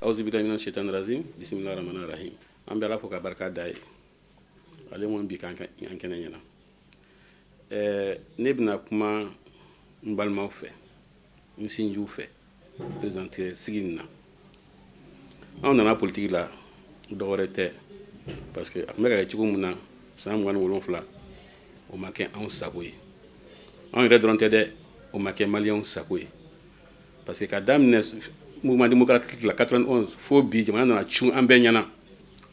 awuzubilamina setan razim bisimila ramana rahim an bɛ ala fo ka barika d'a ye ale min ye bi k'an kɛnɛ ɲɛna ɛɛ ne bɛna kuma n balimaw fɛ n sinjiw fɛ présidentielle sigi nin na anw nana politiki la dɔwɛrɛ tɛ parce que a tun bɛ ka kɛ cogo min na san mugan ni wolonwula o ma kɛ anw sago ye anw yɛrɛ dɔrɔn tɛ dɛ o ma kɛ maliyɛnw sago ye parce que ka daminɛ mouvement démocratique la quatre-vingt-onze fo bi jamana nana ci an bɛɛ ɲɛna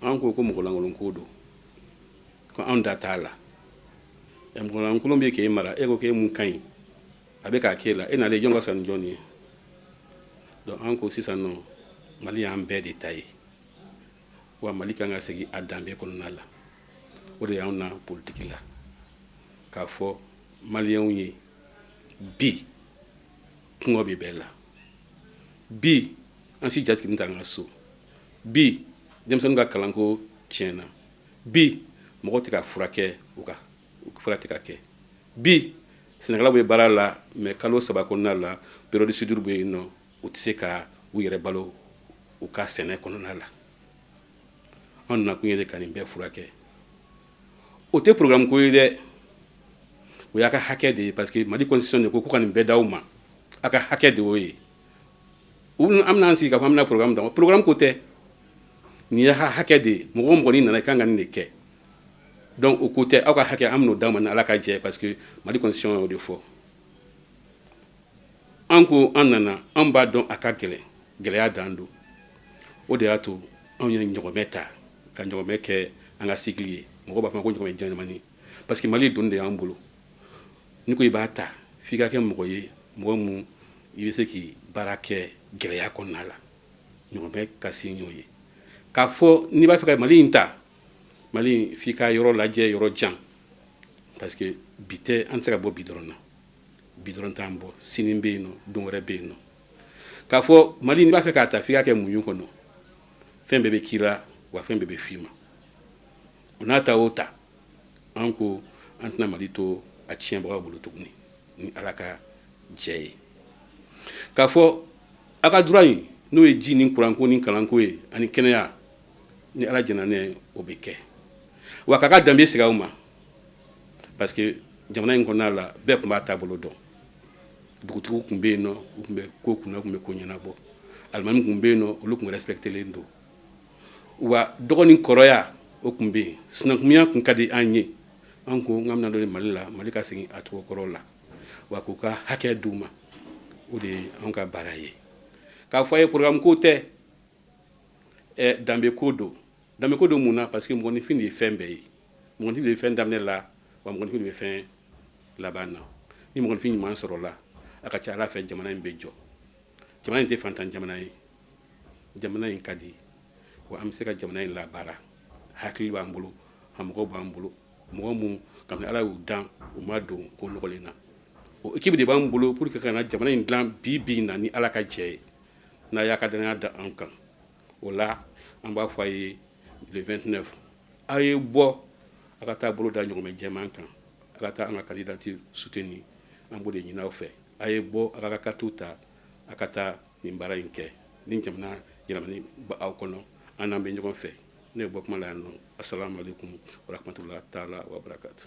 an ko ko mɔgɔlankolon ko don ko anw da t'a la mɔgɔlankolon bɛ k'e mara e ko k'e mun ka ɲi a bɛ k'a k'e la e n'ale jɔn ka fisa ni jɔn ye donc an ko sisan nɔ mali y'an bɛɛ de ta ye wa mali kan ka segin a danbe kɔnɔna la o de y'anw na politiki la k'a fɔ maliyɛnw ye bi kɔngɔ bɛ bɛɛ la bi an si jatigini t'an ka so bi denmisɛnninw ka kalanko tiɲɛna bi mɔgɔw tɛ ka furakɛ u ka fura tɛ ka kɛ bi sɛnɛkɛlaw bɛ baara la mais kalo saba kɔnɔna la période de soudure bɛ yen nɔ u tɛ se ka u yɛrɛ balo u ka sɛnɛ kɔnɔna la an nakun ye de ka nin bɛɛ furakɛ o tɛ programme ko ye dɛ o y'a ka hakɛ de ye parce que mali constitution de ko ko ka nin bɛɛ d'aw ma aw ka hakɛ de y'o ye an bɛna an sigi k'a fɔ an bɛna programme d'a ma programme ko tɛ nin y'a hakɛ de ye mɔgɔ mɔgɔ n'i nana i kan ka nin de kɛ donc o ko tɛ aw ka hakɛ an bɛn'o d'a ma ni ala ka jɛ parce que mali constitution y'o de fɔ an ko an nana an b'a dɔn a ka gɛlɛn gɛlɛya dan don o de y'a to anw ye ɲɔgɔmɛ ta ka ɲɔgɔmɛ kɛ an ka sigle ye mɔgɔ b'a fɔ ko ɲɔgɔmɛ jɛmanin parce que mali doni de y'an bolo ni ko i b'a ta f'i ka kɛ mɔgɔ ye mɔgɔ min i bɛ se k'i baara kɛ gɛlɛya kɔnɔna la ɲɔgɔmɛ ka signe y'o ye k'a fɔ n'i b'a fɛ ka mali in ta mali f'i ka yɔrɔ lajɛ yɔrɔ jan parce que bi tɛ an tɛ se ka bɔ bi dɔrɔn na bi dɔrɔn t'an bɔ sini bɛ yen nɔ don wɛrɛ bɛ yen nɔ k'a fɔ mali n'i b'a fɛ k'a ta f'i ka kɛ muɲu kɔnɔ fɛn bɛɛ bɛ k'i la wa fɛn bɛɛ bɛ f'i ma o n'a ta o ta an ko an tɛna mali to a tiɲɛbagaw bolo tuguni ni ala ka jɛ ye k'a fɔ a ka droit in n'o ye ji ni kuranko ni kalanko ye ani kɛnɛya ni ala jɛnna n'a ye o bɛ kɛ wa k'a ka danbe segin aw ma parce que jamana in kɔnɔna la bɛɛ tun b'a taabolo dɔn dugutigiw tun bɛ yen nɔ u tun bɛ ko kunna u tun bɛ ko ɲɛnabɔ alimamiw tun bɛ yen nɔ olu tun respectelen don wa dɔgɔnin kɔrɔya o tun bɛ yen sinankunya tun ka di an ye an ko n ka bɛn ladon mali la mali ka segin a cogo kɔrɔ la wa k'u ka hakɛ d'u ma o de ye an ka baara ye k'a fɔ a ye programme ko tɛ danbe ko don danbe ko don mun na parce que mɔgɔninfin de ye fɛn bɛɛ ye mɔgɔfin de ye fɛn daminɛ la wa mɔgɔfin de ye fɛn laban na ni mɔgɔfin ɲuman sɔrɔla a ka ca ala fɛ jamana in bɛ jɔ jamana in tɛ fantan jamana ye jamana in ka di wa an bɛ se ka jamana in labaara hakili b'an bolo a mɔgɔw b'an bolo mɔgɔ minnu kabini ala y'u dan u ma don ko nɔgɔlen na o équipe de b'an bolo pour que ka na jamana in dilan bi bi na ni ala ka jɛn ye n'a y'a ka danaya da an kan o la an b'a fɔ a ye le 29 aw ye bɔ a ka taa bolo da ɲɔgɔmɛ jɛman kan a ka taa an ka candidature soutenir an b'o de ɲin'aw fɛ a ye bɔ a k'a ka cartew ta a ka taa nin baara in kɛ ni jamana yɛlɛmani b'aw kɔnɔ a n'an bɛ ɲɔgɔn fɛ ne bɔ kuma la yan nɔ assalamu alaikum warahmatullahi taala wa barakatu